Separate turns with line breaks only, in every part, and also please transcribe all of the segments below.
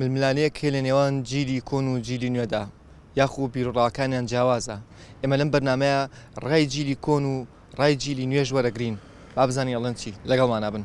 ململانێیەک هەیە لە نێوان جیلی کۆن و جیلی نوێدا یاخو بیرڕاکانیان جیاوازە ئێمە لەم بەرنمەیە ڕای جیلی کۆن و ڕای جیلی نوێژ وەرەگرین بابزانانی ئەڵەن چی لەگەڵمانە بن.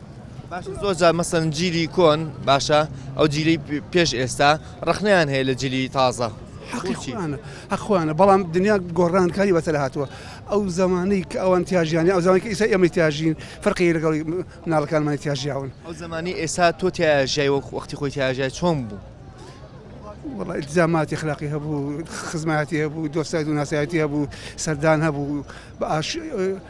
باشە زۆر
جار مەسەن جیلی کۆن باشە ئەو جیلی پێش ئێستا ڕخنیان هەیە لە جلی تازە ئەخوانە
بەڵام دنیا گۆڕانکاری بەسەر هاتووە ئەو زمانەی کە ئەوان تیاژیانی ئەو زمانی ئیسا ئەمە تیاژین فەرقی لەگەڵ مناڵەکانمانی تیاژیاون ئەو زمانی ئێسا
تۆ تیاژای وەک وەختی خۆی تیاژای چۆن بوو
والله التزاماتی خلاقی هەبوو خزمەتی هەبوو دۆستای و ناسایەتی هەبوو سەردان هەبوو بە ئاش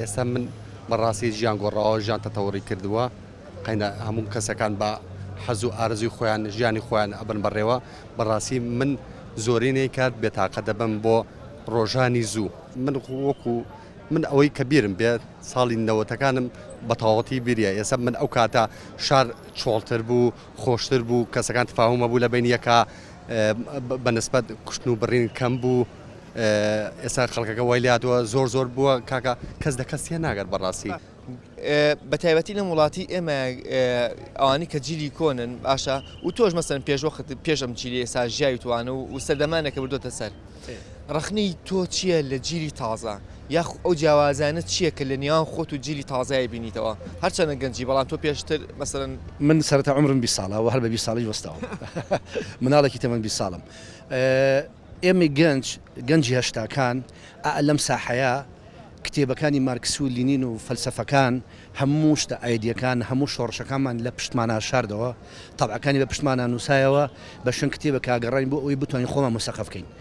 ئێستا من بە ڕاستی ژیان گۆڕاوە ژیان تەتەوڕی کردووە قەینا هەموو کەسەکان بە حەز و ئارزوی خۆیان ژیانی خۆیان ئەبن بەڕێوە بەڕاستی من زۆرینەی کات بێتاقە دەبم بۆ ڕۆژانی زوو من وەکو من ئەوەی کە بیرم بێ ساڵی نەوەتەکانم بە تەواوەتی بیریە ئێستا من ئەو کاتە شار چۆڵتر بوو خۆشتر بوو کەسەکان تفاهمە بوو لە بین یەکە بەنسبەت کوشتن و بڕین کەم بوو ئێستا خەڵکەکە وای لاتوە زۆر زۆر بووە کاکە کەس دە کەس تێ ناگەر بەڕاستی بە
تایبەتی لە وڵاتی ئێمە ئەوانی کە جیلی کۆنن باشە و تۆش مەسەن پێشوەخت پێشم جیلی ئێستا ژیاوی توانە و سەردەمانێکە بردوتە سەر ڕخنی تۆ چییە لە جیلی تازە یاخو ئەو جیاوازیانە چیە کە لە نێوان خۆت و جیلی تازەی ئەیبینیتەوە هەرچەندە گەنجی بەڵام تۆ پێشتر مەسەلەن. من سەرەتا عومرم
بیست ساڵە و هەر بە بیست ساڵیش وەستاوم مناڵێکی تەمەن بیست ساڵم ئێمەی گەنج گەنجی هەشتاکان ئا لەم ساحەیە کتێبەکانی مارکس و لینین و فەلسەفەکان هەموو شتە ئایدیەکان هەموو شۆڕشەکانمان لە پشتمانا شاردەوە تەبعەکانی بە پشتمانا نوسایەوە بە شوێن کتێبەکا گەڕاین بۆ ئەوەی بتوانین خۆمان مسەقەف کەین.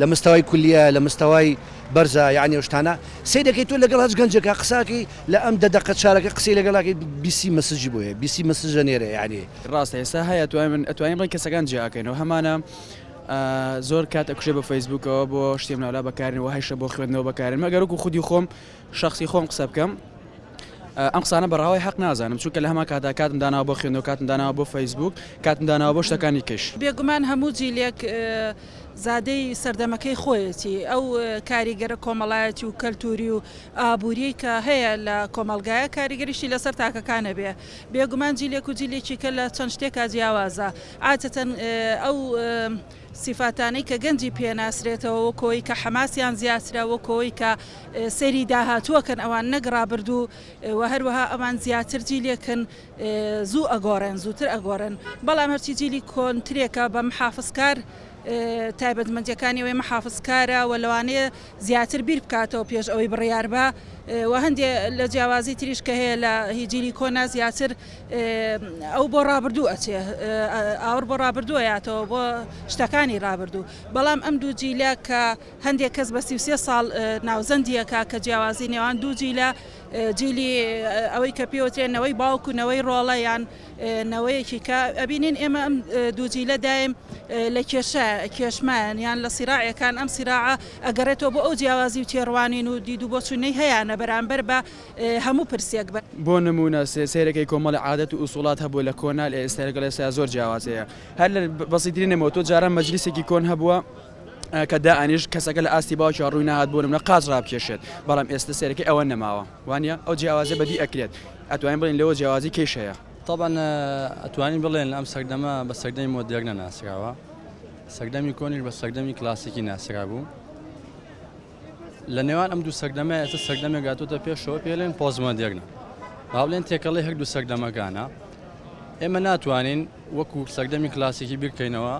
لە مستەوای کولیە لە مستەوای بەرزە یانی ئەو شتانە سەیرەکەی تۆ لەگەڵ هەچ گەنجێکا قساکەی لە ئەم دە دەقە چارەکە قسەی لەگەڵاکەی بیسی مەسجی بۆ هەیە بیسی مەسجە نێرە یانی. ڕاستە ئێستا هەیە
ئەتوانین ئەتوانین ڕێی کەسەکان جیا ئەکەینەوە هەمانە زۆر کات ئەکوژێ بە فەیسبووکەوە بۆ شتێ منالا بەکارین وە هەیشە بۆ خوێندنەوە بەکارێنمە گەر وەکو خودی خۆم شخصی خۆم قسە بکەم ئەم قسانە بە ڕاوای حەق نازانم چونکە لە هەمان کاتدا کاتم داناوە بۆ خوێندنەوە کاتم داناوە بۆ فەیسبووک کاتم داناوە بۆ شتەکانی کش. بێگومان هەموو
جیلێک زادەی سەردەمەکەی خۆیەتی ئەو کاریگەرە کۆمەڵایەتی و کەلتوری و ئابوریەی کە هەیە لە کۆمەڵگایە کاریگەریشی لەسەر تاکەکان ئەبێ بێگومان جیلێک و جیلێکی کە لە چەند شتێکا جیاوازە عادەتەن ئەو سیفاتانەی کە گەنجی پێ ناسرێتەوە وەکو ئەوەی کە حەماسیان زیاترە وەکو ئەوەی کە سەیری داهاتوو ئەکەن ئەوان نەک ڕابردوو وە هەروەها ئەوان زیاتر جیلێکن زوو ئەگۆڕێن زووتر ئەگۆڕێن بەڵام هەرچی جیلی کۆنترێکە بە محافزکار تایبەتمەندیەکانی ئەوەی محافزکارە وە لەوانەیە زیاتر بیر بکاتەوە پێش ئەوەی بڕیار با وە هەندێ لە جیاوازی تریش کە هەیە لە هی جیلی کۆنا زیاتر ئەو بۆ ڕابردوو ئەچێ ئاوڕ بۆ ڕابردوو ئەیاتەوە بۆ شتەکانی ڕابردوو بەڵام ئەم دوو جیلە کە هەندێک کەس بە سی و سێ ساڵ ناوزەندیەکە کە جیاوازی نێوان دوو جیلە جیلی ئەوەی کە پێوترێ نەوەی باوک و نەوەی ڕۆڵە یان نەوەیەکی کە ئەبینین ئێمە ئەم دوو جیلە دایم لە کێشە کێشمان یان لە سیراعەکان ئەم سیراعە ئەگەڕێتەوە بۆ ئەو جیاوازی و تێڕوانین و دید و بۆچوونەی هەیانە بەرامبەر بە هەموو پرسێک بە بۆ نموونە
سێ سەیرەکەی کۆمەڵێ عادەت و ئوسوڵات هەبووە لە کۆنا لە ئێستا لەگەڵ ئێستا زۆر جیاواز هەیە هەر لە بەسیترین نموونە تۆ جاران مەجلیسێکی کۆن هەبووە کە دائەنیشت کەسەکە لە ئاستی باوکیەوە ڕووی نەهات بۆ نموونە قاچ ڕابکێشێت بەڵام ئێستا سەیرەکەی ئەوە نەماوە. وانیە؟ ئەو جیاوازیە بەدی ئەکرێت ئەتوانین بڵێین لەوە جیاوازی کێش هەیە؟ تەبعەن
ئەتوانین بڵێن ئەم سەردەمە بە سەردەمی مۆدێرنە ناسراوە، سەردەمی کۆنیش بە سەردەمی کلاسیکی ناسرابوو. لە نێوان ئەم دوو سەردەمە ئێستا سەردەمێک هاتووتە پێشەوە پێ لێن پۆزمۆدێرنە. با بڵێن تێکەڵەی هەردوو سەردەمەکانە. ئێمە ناتوانین وەکو سەردەمی کلاسیکی بیرکەینەوە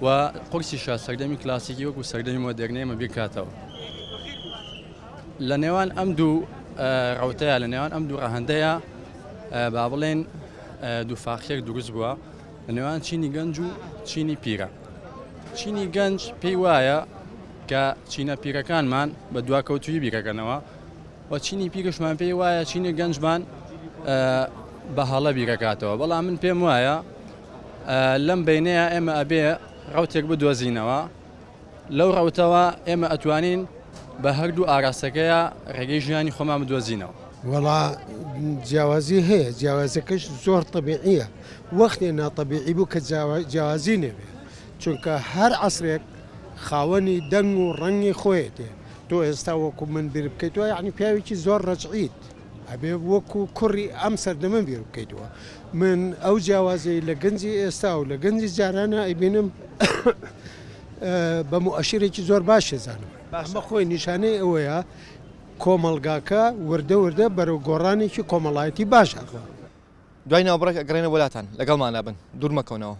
و قورسیشە سەردەمی کلاسیکی وەکو سەردەمی مۆدێرنە ئێمە بیرکاتەوە. لە نێوان ئەم دوو ڕەوتەیە، لە نێوان ئەم دوو ڕەهەندەیە با بڵێن دووفاقیەک دروست بووە لە نێوان چینی گەنج و چینی پیرە. چینی گەنج پێی وایە کە چینە پیرەکانمان بە دواکەوتوی بیرەکەنەوە و چینی پیرشمان پێی وایە چینی گەنجمان بە هەڵە بیرەکاتەوە بەڵام من پێم وایە لەم بینەیە ئێمە ئەبێ ڕوتێک بدۆزینەوە لەو ڕەوتەوە ئێمە ئەتوانین بە هەردوو ئاراستەکەیا ڕێگەی ژیانی خۆمان بدۆزینەوە. وەڵا
جیاوازی هەیە، جیاوازەکەش زۆر تەبیعییە، وەختێ ناتەبیعی بوو کە جیاوازی نەبێ، چونکە هەر عەسرێک خاوەنی دەنگ و ڕەنگی خۆیەتی، تۆ ئێستا وەکوو من بیر بکەیتەوە یانی پیاوێکی زۆر ڕەجعیت، ئەبێ وەکو کوڕی ئەم سەردەمە بیر بکەیتەوە. من ئەو جیاوازیەی لە گەنجی ئێستا و لە گەنجی جارانە ئەیبینم بە موئەشیرێکی زۆر باش ئەزانم. ئەمە خۆی نیشانەی ئەوەیە کۆمەڵگاکە وردە وردە بەرەو گۆڕانێکی کۆمەڵایەتی
باش
ئەڕوا. دوای
ناوبڕێک ئەگەڕێینەوە بۆ
لاتان.
لەگەڵماندا بن.
دوور
مەکەونەوە.